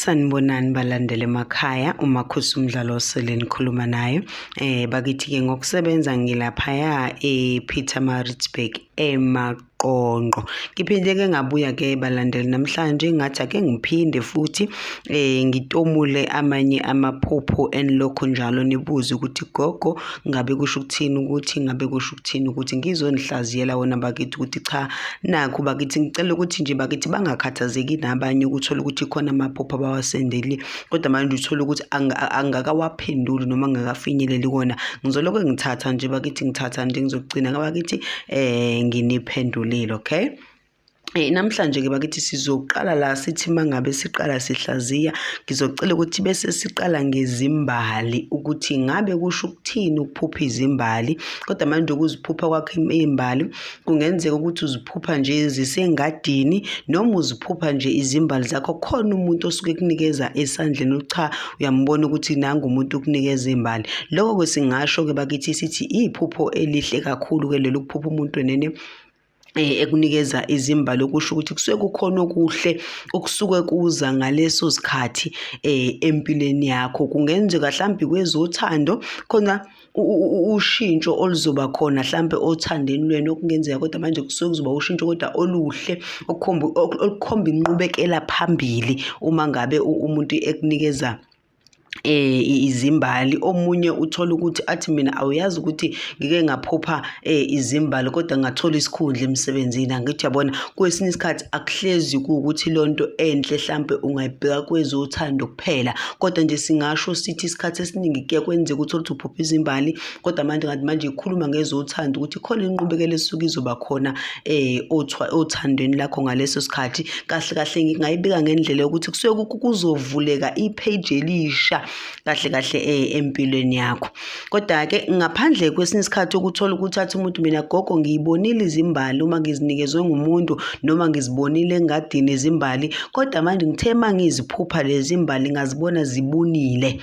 Sanibonani balandele emakhaya uma khusa umdlalo osele nikhuluma naye eh bakithi ke ngokusebenza ngilaphaya ePeter Maritzburg emaqonqo ngiphinde ke ngabuya ke balandeli namhlanje ngathi ake ngiphinde futhi eh ngitomule amanye amaphupho enilokho njalo nibuze ukuthi gogo ngabe kusho ukuthini ukuthi ngabe kusho ukuthini ukuthi ngizonihlaziyela wona bakithi ukuthi cha nakho bakithi ngicela ukuthi nje bakithi bangakhathazeki nabanye ukuthola ukuthi khona amaphupho abawasendeli kodwa manje uthole ukuthi angakawaphenduli noma angakafinyeleli kona ngizolokhu ngithatha nje bakithi ngithatha nje ngizogcina bakithi um nginiphendulile okay Eh, namhlanje ke bakithi sizoqala la sithi mangabe siqala sihlaziya ngizocela ukuthi bese siqala ngezimbali ukuthi ngabe kusho ukuthini ukuphupha izimbali kodwa manje ukuziphupha kwakho imbali kungenzeka ukuthi uziphupha nje zisengadini noma uziphupha nje izimbali zakho khona umuntu osuke kunikeza esandleni ucha uyambona ukuthi nangu umuntu ukunikeza imbali lokho ke singasho ke bakithi sithi iphupho elihle kakhulu ke lelo kuphupha umuntu enene Eh, ekunikeza izimbali okusho ukuthi kusuke kukhona okuhle okusuke kuza ngaleso sikhathi um empilweni yakho kungenzeka mhlawumbe kwezothando khona ushintsho oluzoba khona mhlawumbe othandeni lwenu okungenzeka kodwa manje kusuke kuzoba ushintsho kodwa oluhle olukhomba inqubekela phambili uma ngabe umuntu ekunikeza eh izimbali omunye uthola ukuthi athi mina awuyazi ukuthi ngike ngaphupha eh izimbali kodwa ngathola isikhundla emsebenzini angithi yabona kwesinye isikhathi akuhlezi ukuthi lonto enhle mhlambe ungayibheka kwezothando kuphela kodwa nje singasho sithi isikhathi esiningi kuye kwenzeka ukuthi uphupha izimbali kodwa manje ngathi manje ikhuluma ngezothando ukuthi khona inqubekela esuke izoba khona eh othandweni lakho ngaleso sikhathi kahle kahle ngingayibeka ngendlela yokuthi kusuke kuzovuleka ipage elisha kahle kahle eh empilweni yakho kodwa ke ngaphandle kwesinye isikhathi ukuthola ukuthi athi umuntu mina gogo ngiyibonile izimbali uma ngizinikezwe ngumuntu noma ngizibonile engadini izimbali kodwa manje ngithe mangiziphupha lezi mbali ngazibona zibunile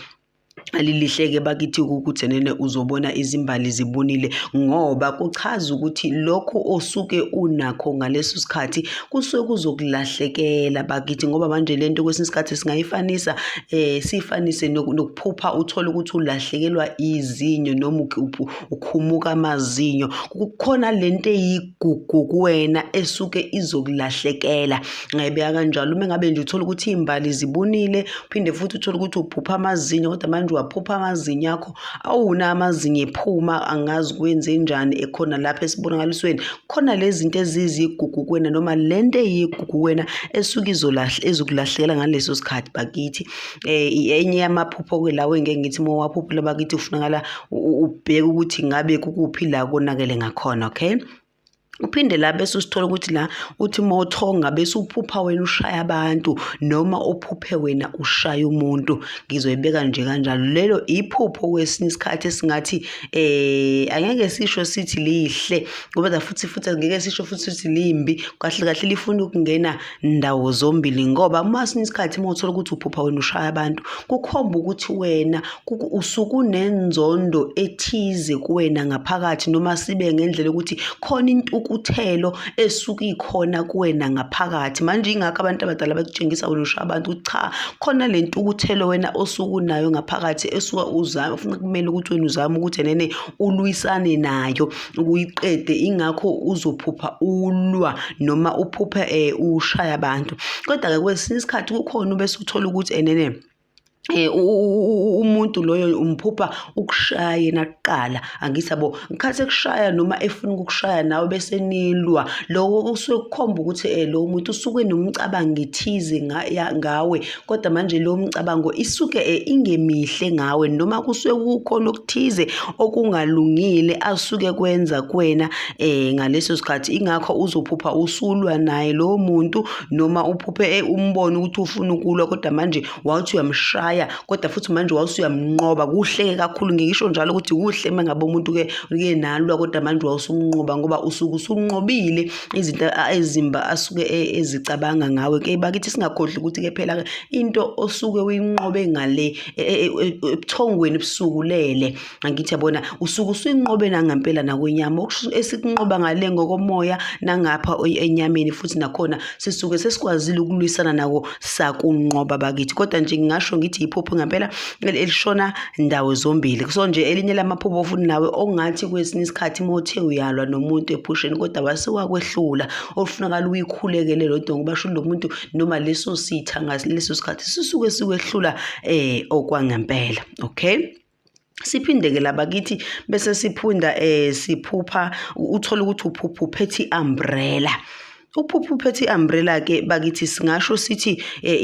alilihleke bakithi ukukuthenene uzobona izimbali zibunile ngoba kuchaza ukuthi lokho osuke unakho ngaleso sikhathi kusuke kuzokulahlekela bakithi ngoba manje le nto kwesinye isikhathi singayifanisa um siyifanise nokuphupha uthole ukuthi ulahlekelwa izinyo noma ukhumuka amazinyo kukhona le nto kuwena esuke izokulahlekela ngayibeka kanjalo uma ngabe nje uthola ukuthi iy'mbali zibunile phinde futhi uthole ukuthi uphupha amazinyo kodwa manje uwaphupha amazinyo akho awuna amazinyo ephuma angazi kwenze njani ekhona lapha esibonakalisweni khona lezi zinto ezizigugu kuwena noma le nto eyigugu kuwena esuke ezokulahlekela ngaleso sikhathi bakithi um enye yamaphupho-ke lawo engeke ngithi uma uwaphupha labakithi kufunakala ubheke ukuthi ngabe kukuphi la konakele ngakhona okay uphinde la bese usithola ukuthi la uthi uma uthonga bese uphupha wena ushaya abantu noma uphuphe wena ushaya umuntu ngizoyibeka nje kanjalo lelo iphupho kwesinye isikhathi esingathi eh angeke sisho sithi lihle ngoba futhi futhi angeke sisho futhi sithi limbi kahle kahle lifuna ukungena ndawo zombili ngoba uma sinye isikhathi uma uthola ukuthi uphupha wena ushaya abantu kukhomba ukuthi wena usukunenzondo ethize kuwena ngaphakathi noma sibe ngendlela yokuthi khona intukuthelo esuke ikhona kuwena ngaphakathi manje ingakho abantu abadala bakutshengisa wena ushaya abantu ukuthi cha khona le ntukuthelo wena osukunayo ngaphakathi esuka uzama ufuna kumele ukuthi wena uzame ukuthi nene ulwisane nayo. ukuyiqede ingakho uzophupha ulwa noma uphuphe eh, ushaya abantu kodwa-ke kwesinye isikhathi kukhona ubese uthola ukuthi enene eh, Eh, umuntu loyo umphupha ukushaya yena kuqala angithi yabo ngikhathi ekushaya noma efuna ukukushaya nawe bese nilwa loko kusuke kukhomba ukuthi um eh, lowo muntu usuke nomcabango ethize ngawe kodwa manje leyo mcabango isuke eh, ingemihle ngawe noma kusuke kukhona okuthize okungalungile asuke kwenza kuwena um ngaleso sikhathi ingakho uzophupha usulwa naye lowo muntu noma uphuphe eh, umbone ukuthi ufuna ukulwa kodwa manje wawuthi uyamshaya kodwa futhi manje wawusuyamnqoba kuhle-ke kakhulu ngikisho njalo ukuthi kuhle uma ngabe umuntu-ke uke nalwa kodwa manje wawusumnqoba ngoba usuke usunqobile izinto ezimba asuke e, ezicabanga ngawe ke bakithi singakhohlwa ukuthi ke phela into osuke uyinqobe ngale e, e, ebuthongweni busukulele angithi yabona usuke usuyinqobe nangempela nakwenyama esikunqoba ngale ngokomoya nangapha enyameni futhi nakhona sisuke sesikwazile ukulwisana nako sakunqoba bakithi kodwa nje ngingasho ngithi yiphupho ngempela elishona ndawo zombili so nje elinye lamaphubo futhi nawe ongathi kwesinye isikhathi uma uthe uyalwa nomuntu ephusheni kodwa wasewakwehlula olufunakala uyikhulekele lo dongo basho lo muntu noma leso sitha ngaleso sikhathi sisuke sikwehlula um eh, okwangempela okay siphinde-ke labakithi bese siphunda um siphupha uthole ukuthi uphupha uphethe i-umbrella Uphupho uphethe i-umbrella ke bakithi singasho sithi eh,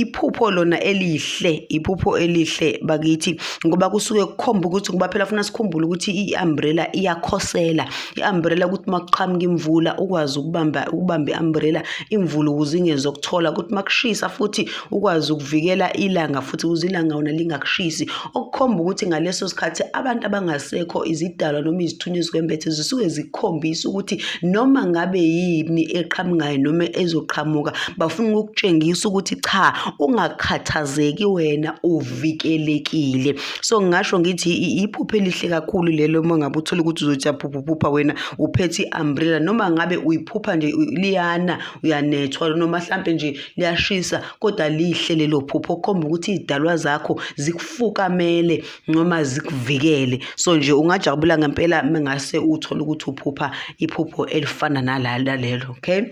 iphupho lona elihle iphupho elihle bakithi ngoba kusuke kukhomba ukuthi ngoba phela funa sikhumbule ukuthi i-umbrella iyakhosela i-umbrella ukuthi makuqhamuka imvula ukwazi ukubamba ukubamba i-umbrella imvula ukuze ingezokuthola ukuthi makushisa futhi ukwazi ukuvikela ilanga futhi ukuze ilanga wona lingakushisi okukhomba ukuthi ngaleso sikhathi abantu abangasekho izidalwa noma izithunywa ezikwembethe zisuke zikhombisa ukuthi noma ngabe yini eqhamukayo noma ezoqhamuka bafuna ukukutshengisa ukuthi cha ungakhathazeki wena uvikelekile so ngasho ngithi iphupho elihle kakhulu lelo uma ngabe uthole ukuthi uzothi uyaphuphuphupha wena uphethe i-umbrella noma ngabe uyiphupha nje liyana uyanethwa noma hlampe nje liyashisa kodwa lihle lelo phupho khomba ukuthi idalwa zakho zikufukamele noma zikuvikele so nje ungajabula ngempela mengase uthole ukuthi uphupha iphupho elifana nalala lelo okay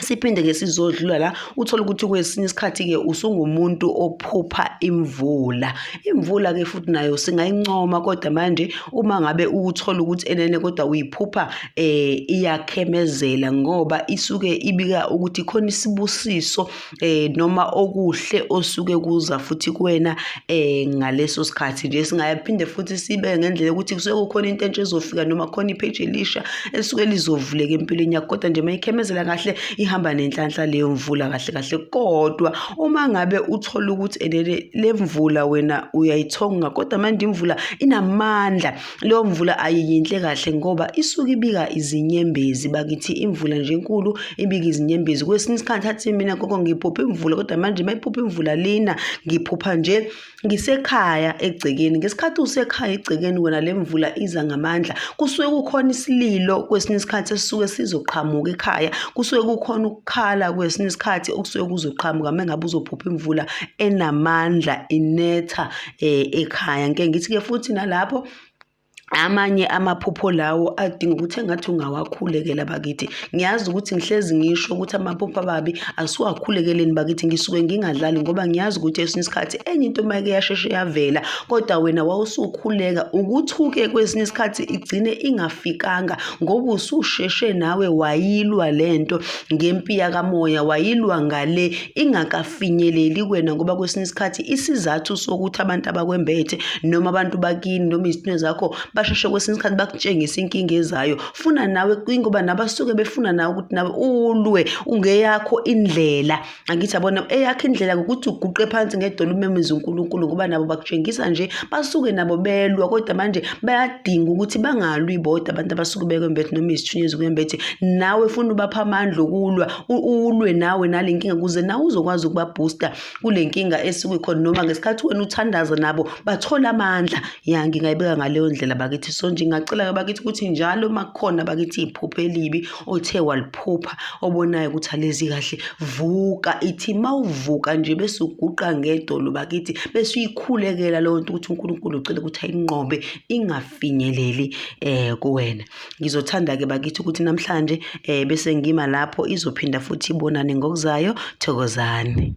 siphinde ke sizodlula la uthole ukuthi kwesinye isikhathi ke usungumuntu ophupha imvula imvula ke futhi nayo singayincoma kodwa manje uma ngabe uthola ukuthi enene kodwa uyiphupha eh iyakhemezela ngoba isuke ibika ukuthi khona isibusiso eh noma okuhle osuke kuza futhi kuwena eh ngaleso sikhathi nje singayaphinde futhi sibe ngendlela ukuthi kusuke kukhona into entsha ezofika noma khona ipage elisha esuke lizovuleka empilweni yakho kodwa nje mayikhemezela kahle ihamba nenhlanhla leyo mvula kahle kahle kodwa uma ngabe uthola ukuthi enene lemvula wena uyayithonga kodwa manje imvula inamandla Leyo mvula ayiyinhle kahle ngoba isuke ibika izinyembezi bakithi imvula nje enkulu ibika izinyembezi kwesinye isikhathi athi mina gogo ngiphupha imvula kodwa manje uma iphupha imvula lina ngiphupha nje ngisekhaya egcekeni ngesikhathi usekhaya egcekeni wena le mvula iza ngamandla kusuke kukhona isililo kwesinye isikhathi esisuke sizoqhamuka ekhaya kusuke kukhona ukukhala kwesinye isikhathi okusuke kuzoqhamuka mengabe uzophupha imvula enamandla inetha eh, ekhaya ngike ngithi-ke futhi nalapho amanye amaphupho lawo adinga ukuthi engathi ungawakhulekela bakithi ngiyazi ukuthi ngihlezi ngisho ukuthi amaphupho ababi asiwakhulekeleni bakithi ngisuke ngingadlali ngoba ngiyazi ukuthi esinye isikhathi enye into mayike yasheshe yavela kodwa wena wawusukhuleka ukuthuke kwesinye isikhathi igcine ingafikanga ngoba ususheshe nawe wayilwa lento ngempi yakamoya wayilwa ngale ingakafinyeleli kwena ngoba kwesinye isikhathi isizathu sokuthi abantu abakwembethe noma abantu bakini noma izithunywa zakho basheshe kwesinye isikhathi bakutshengise inkinga ezayo funa nawe ingoba nabasuke befuna nawe ukuthi nawe ulwe ungeyakho indlela angithi abona eyakhe indlela ngokuthi uguqe phansi ngedolo umemeze uNkulunkulu ngoba nabo bakutshengisa nje basuke nabo belwa kodwa manje bayadinga ukuthi bangalwi bodwa abantu abasuke bekwembethe noma izithunyezi kwembethe nawe funa ubapha amandla okulwa ulwe nawe nale nkinga kuze nawe uzokwazi ukubabhusta kule nkinga esuke khona noma ngesikhathi wena uthandaza nabo bathole amandla ya ngingayibeka ngaleyo ndlela bakithi so nje ngingacela bakithi ukuthi njalo uma kukhona bakithi iphupho elibi othe waliphupha obonayo ukuthi alezi kahle vuka ithi mawuvuka nje bese uguqa ngedolo bakithi bese uyikhulekela leyo nto ukuthi uNkulunkulu ucela ukuthi ayinqobe ingafinyeleli eh kuwena ngizothanda ke bakithi ukuthi namhlanje eh bese ngima lapho izophinda futhi ibonane ngokuzayo thokozani